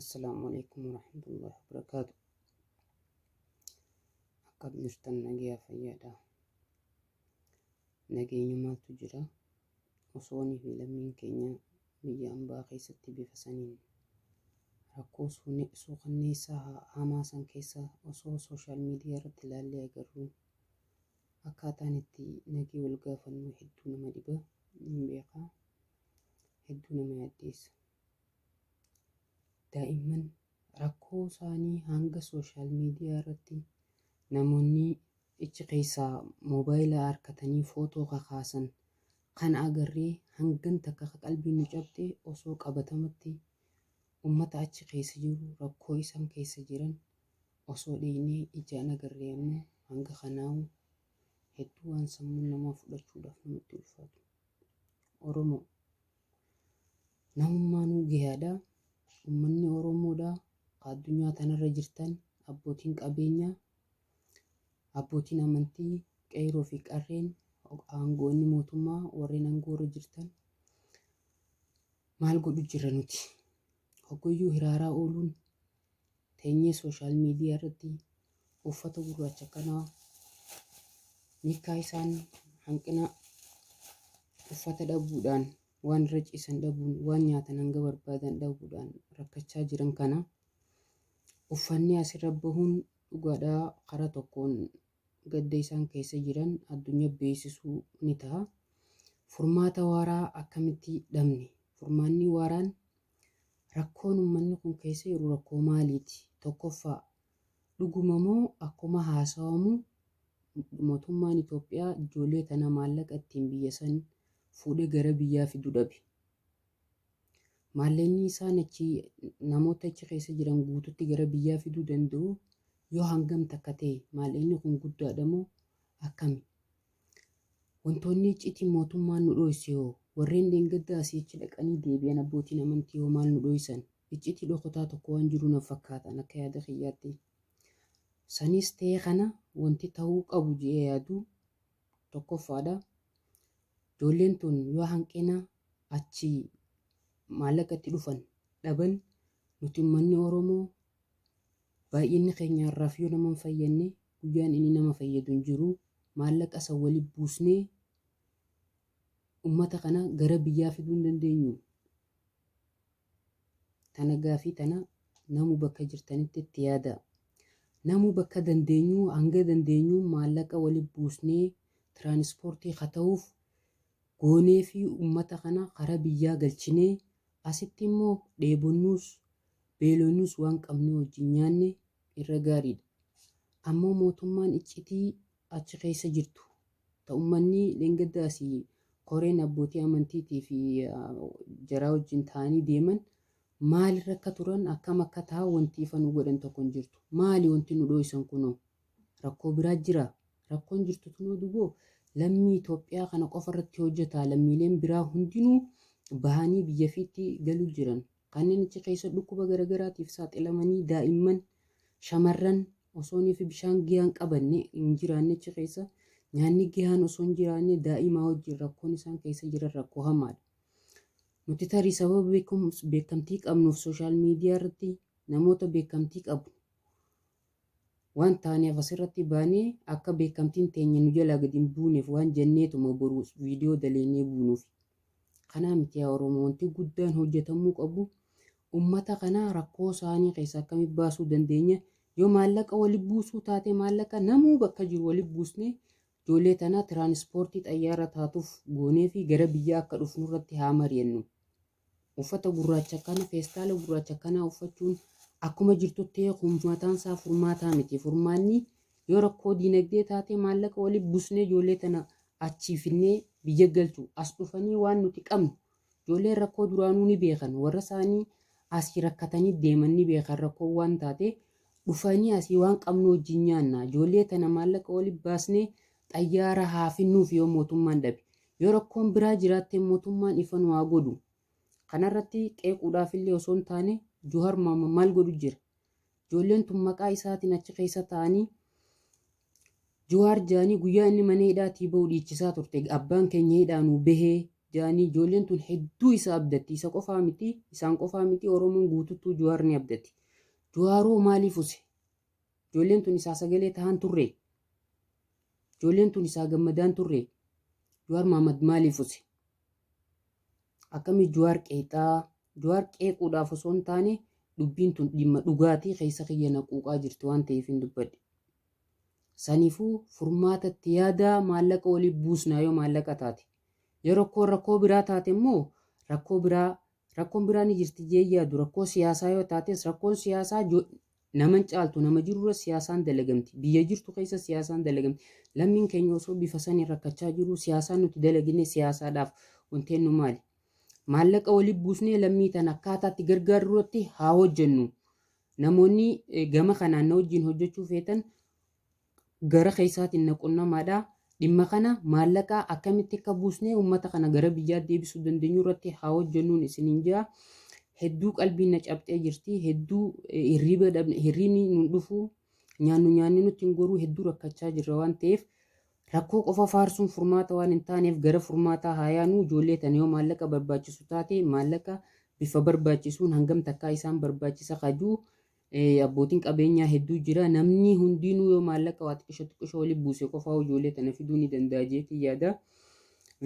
Assalaamu alaikum warahmatullahi wabarakaatu. Akkam jirtan nagayaa fayyaadha. Nageenyumaatu jira. Osoonii fi lammiin keenya biyya ambaa keessatti bifa saniin rakkoo suune- suukanneessaa haa- hamaa san keessa osoo sooshaal miidiyaa irratti ilaallee agarru Akkaataan itti nagee wal gaafannu hedduu nama dhiba, nin beeka. Hedduu nama yaaddeessa. Daa'imman rakkoo isaanii hanga sooshaal miidiyaa irratti namoonni ichi keessaa moobaayila harkatanii footoo kakaasan kan agarree hangan takka akka qalbiin nu cabxe osoo qabatamatti ummata achi keessa jiru rakkoo isaan keessa jiran Osoo dhiiynee ijaan agarree ammoo hanga kanaahu hedduu waan sammuun namaa fudhachuudhaaf namatti ulfaatu. Oromoo. Namummaanuu gayaadha. Ummanni Oromoodha ka addunyaa tanarra jirtan abbootiin qabeenyaa, abbootiin amantii, qeeyroo fi qarreen, aangoonni mootummaa warreen angoorra jirtan maal godhu jirra nuti? Hogguyyuu hiraaraa ooluun teenyee sooshaal miidiyaa irratti uffata gurraacha kanaa nikkaa isaan hanqina uffata dhabuudhaan waan irra ciisan dhabuun waan nyaatan hanga barbaadan dhabuudhaan rakkachaa jiran kana uffanni asirra bahuun dhugaadhaa karaa tokkoon gadda isaan keessa jiran addunyaa beeksisuu ni ta'a. Furmaata waaraa akkamitti dhabne? Furmaanni waaraan Rakkoon ummanni kun keessa jiru rakkoo maaliiti? Tokkoffaa, dhuguma moo akkuma haasawamu motummaan Itoophiyaa ijoollee tana maallaqa ittiin biyya san fuudhee gara biyyaa fidu dhabe? Maallaqni isaan achi namoota achi keessa jiran guututti gara biyyaa fiduu danda'u yoo hangam takka ta'e maallaqni kun guddaadha moo akkami? Wantoonni icciitiin mootummaan nu dhooyse hoo? Warreen dheengadda asii achi dhaqanii deebi'an abbootiin amantii hoo maal nu dhooysan? Icciitii dhokotaa tokko waan jiru na fakkaatan akka yaada kiyyaatti. Sanis ta'ee kana wanti ta'uu qabu je'ee yaadu tokkoffaadha. Ijoolleen tun yoo hanqina achi maallaqa itti dhufan dhaban nuti ummanni Oromoo Baay'inni keenya har'aaf yoo nama hin fayyanne guyyaan inni nama fayyadu hin jiru. Maallaqa san wali buusnee ummata kana gara biyyaa fiduu hin dandeenyu? Tana gaafii tana namuu bakka jirtanitti itti yaadaa. Namuu bakka dandeenyu hanga dandeenyu maallaqa wali buusnee tiraanispoortii ka ta'uuf goonee fi ummata kana karaa biyyaa galchinee asitti immoo dheebonnuus beelonus waan qabnee wajjin nyaanne irra gaariidha. Ammoo mootummaan iccitii achi keessa jirtu ta ummanni dheengadda asii koreen abbootii amantiitii fi jaraa wajjin taa'anii deeman maalirra akka turan akkam akka taha wanti ifa nu godhan tokko hin jirtu. Maali wanti nu dhooysan kunoo? Rakkoo biraa jiraa? Rakkoon jirtu tunoo duboo lammii Itoophiyaa kana qofa irratti hojjataa lammiileen biraa hundinuu bahanii biyya fiitti galuu jiran. Kanneen achi keessa dhukkuba garagaraatiif saaxilamanii daa'imman, shamarran osooniif bishaan giyaan qabanne hin jiraanne achi keessa nyaanni gihaan osoo hin jiraanne daa'imaa wajjin rakkoon isaan keessa jiran rakkoo hamaadha. Nuti tarii sababa beekumsa beekamtii qabnuuf sooshaal miidiyaa irratti namoota beekamtii qabu Waan taaneef asirratti baanee akka beekamtiin teenya nu jalaa gad hin buuneef waan jenneetuma boru viidiyoo daleynee buunuufi. Kanaa miti yaa Oromoo wanti guddaan hojjetamuu qabu ummata kana rakkoo saanii keessaa akkamitti baasuu dandeenya yoo maallaqa wali buusuu taate maallaqa namuu bakka jiru wali buusnee ijoollee tanaa tiraanispoortii xayyaara taatuuf gooneefi gara biyyaa akka dhufnurratti haa mari'annu. Uffata gurraacha kana, feestaala gurraacha kanaa uffachuun akkuma jirtutti kun mataan isaa furmaataa miti. Furmaanni yoo rakkoo diinagdee taatee maallaqa waliif busnee ijoollee tana achii finnee biyya galchu. As dhufanii waan nuti qabnu ijoolleen rakkoo duraanuu ni beekan. Warra isaanii asii rakkatanii deeman ni beekan rakkoo waan taatee dhufanii asii waan qabnu wajjin nyaanna. Ijoollee tana maallaqa waliif baasnee xayyaara haa finnuuf yoo mootummaan dhabe. Yoo rakkoon biraa jiraatte mootummaan ifa nu haa godhu. Kanarratti qeequudhaafillee osoo hin taane Juhar Maama maal godhu jira? Ijoolleen tun maqaa isaatiin achi keessa taa'anii Juwaar jaanii guyyaa inni mana hidhaatii bahu dhiichisaa turte abbaan keenya hidhaa nuu bahee jaanii ijoolleen tun hedduu isa abdatti isa qofaa miti isaan qofaa miti Oromoon guututtuu Juwaar ni abdati. Juwaaroo maaliif use? Ijoolleen tun isaa sagalee tahaan turree? Ijoolleen tun isaa gammadaan turree? Jawaar Mahammad maaliif use? Akkamii Jawaar qeeqxaa? Jawaar qeequudhaaf osoo hin taane dubbiin tun dhimma dhugaatii keessa kiyya na quuqaa jirti waan ta'eef hin dubbadhe. Saniifuu furmaata itti yaadaa maallaqa waliif buusnaa yoo maallaqa taate. Yoo rakkoo rakkoo biraa taate immoo rakkoo biraa Rakkoon biraa ni jirti jee hin yaadu rakkoo siyaasaa yoo taates rakkoon siyaasaa jo nama hin caaltu nama jirurra siyaasaan dalagamti biyya jirtu keessa siyaasaan dalagamti lammiin keenya osoo bifa saniin rakkachaa jiruu siyaasaan nuti dalagine siyaasaadhaaf wanteennu maali maallaqa wali buusnee lammii tana akkaataatti gargaarurratti haa hojjennu namoonni eh, gama kanaan na wajjin hojjechuu feetan gara keessaatiin na qunnamaadha. Dhimma kana maallaqa akkamitti akka buusnee uummata kana gara biyyaa deebisuu dandeenyu irratti haa hojjennuun isiniin jira. Hedduu qalbiin na cabxee jirti. Hedduu eh, hirriiba dhabne, hirriibni nun dhufu, nyaannu nyaanni nutti hin goruu hedduu rakkachaa jirra waan ta'eef rakkoo qofa faarsuun furmaata waan hin taaneef gara furmaataa haa yaanu ijoollee tana yoo maallaqa barbaachisu taate maallaqa bifa barbaachisuun hangam takkaa isaan barbaachisa kajuu Eh, abbootiin qabeenyaa hedduu jira. Namni hundinuu yoo maallaqa waa xiqqisho xiqqisho wali buuse qofaa ijoollee tana fiduu ni danda'a jeetii yaada.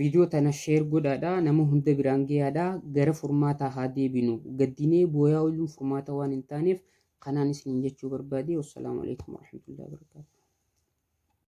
Viidiyoo tana sheer godhaadha. Nama hunda biraan gayaadha. Gara furmaataa haa deebinu. Gaddinee booyaa ooluun furmaata waan hin taaneef kanaan isiniin jechuu barbaade. Wassalaamu alaikum warahmatullahi wabarakatuh.